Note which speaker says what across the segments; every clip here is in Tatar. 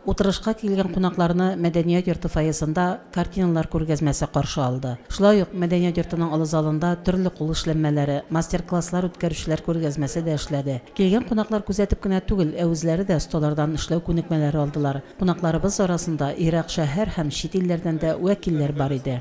Speaker 1: Утырышка килгән кунакларны мәдәният йорты фойесында картиналар күргәзмәсе каршы алды. Шулай ук мәдәният йортының олы залында төрле кул эшләнмәләре, мастер-класслар үткәрүчеләр күргәзмәсе дә эшләде. Килгән кунаклар күзәтеп кенә түгел, ә үзләре дә осталардан эшләү күнекмәләре алдылар. Кунакларыбыз арасында ерак шәһәр һәм чит илләрдән дә вәкилләр бар иде.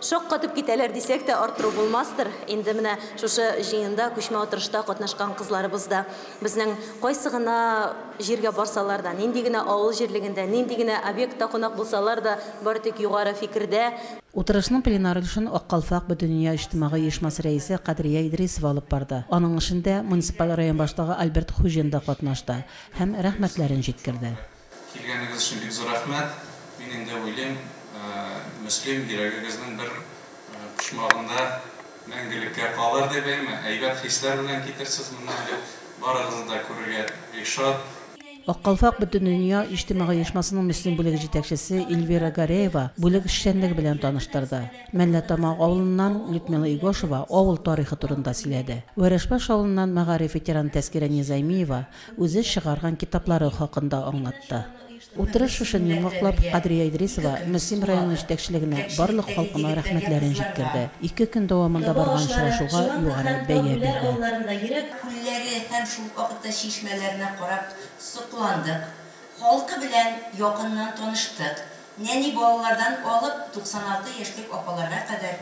Speaker 2: Шаккатып китәләр дисәк тә арттыру булмастыр, инде менә шушы җыенда күчмә утырышта катнашкан кызларыбыз да безнең кайсы гына җиргә барсалар да, нинди генә авыл җирлегендә, нинди генә объектта кунак булсалар да, бары тик югары фикердә. Утырышның пленар
Speaker 1: өлешен Ак калфак бөтендөнья иҗтимагый оешмасы рәисе Кадрия Идрисова алып барды. Аның эшендә муниципаль район башлыгы Альберт Хуҗин да катнашты һәм рәхмәтләрен җиткерде. Килгәнегез
Speaker 3: өчен бик зур рәхмәт. Мин инде уйлыйм, Мөслим йөрәгегезнең бер почмагында мәңгелеккә калыр дип, әйме? Әйбәт хисләр белән китерсез моннан дип, барыгызны да күрергә бик шат. Ак калфак
Speaker 1: Бөтендөнья иҗтимагый оешмасының Мөслим бүлеге җитәкчесе Эльвира Гареева бүлек эшчәнлеге белән таныштырды. Мәллә Тамагы авылыннан Людмила Игошева авыл тарихы турында сөйләде. Вәрәшбаш авылыннан мәгариф ветераны Тәскирә Низаймиева Үзе чыгарган китаплары хакында аңлатты. Утырыш шушен йомгаклап, Кадрия Идрисова Мөслим районы җитәкчелегенә барлык халкына рәхмәтләрен җиткерде, ике көн дәвамында барган очрашуга югары бәя бирде. Күлләре
Speaker 4: һәм шул ук вакытта чишмәләренә карап сокландык, халкы белән якыннан таныштык, нәни балалардан алып 96 яшьлек апаларга кадәр,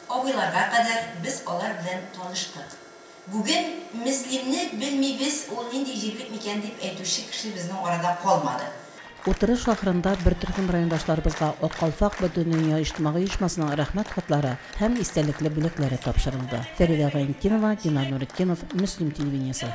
Speaker 4: абыйларга кадәр без алар белән таныштык. Бүген Мөслимне белмибез, ул нинди җирлек микән дип әйтүче кеше безнең арада калмады. Утырыш
Speaker 1: ахырында бертөркем райондашларыбызга Ак калфак бөтендөнья иҗтимагый оешмасының Рәхмәт хатлары һәм истәлекле бүләкләре тапшырылды. Фәридә Гайнетдинова, Динар Нуретдинов, Мөслим телевидениесе.